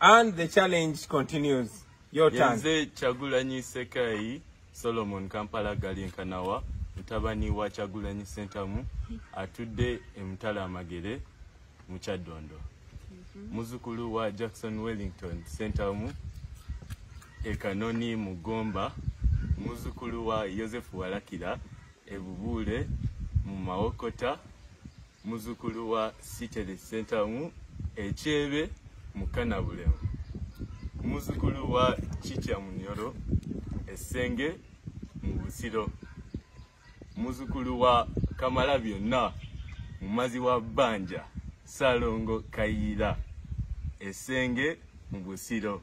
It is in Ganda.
And the challenge continues. Your turn. Yenze Chagulanyi Sekai, Solomon Kampala Galinkanawa, mutabani wa Chagulanyi Sentamu, atudde emutala amagere mu Kyaddondo. Mhm. Muzukulu wa Jackson Wellington Sentamu, e Kanoni mu Gomba, muzukulu wa Yosefu Walakira, e Bubuule mu Mawokota, Muzukulu wa Siteri Ssentamu Ekyebe mu Kanabulemu. Muzukulu wa Kitya Munyoro Essenge mu Busiro. Muzukulu wa Kamala Byonna mumazi wa Bbanja Salongo Kayiira Essenge mu Busiro.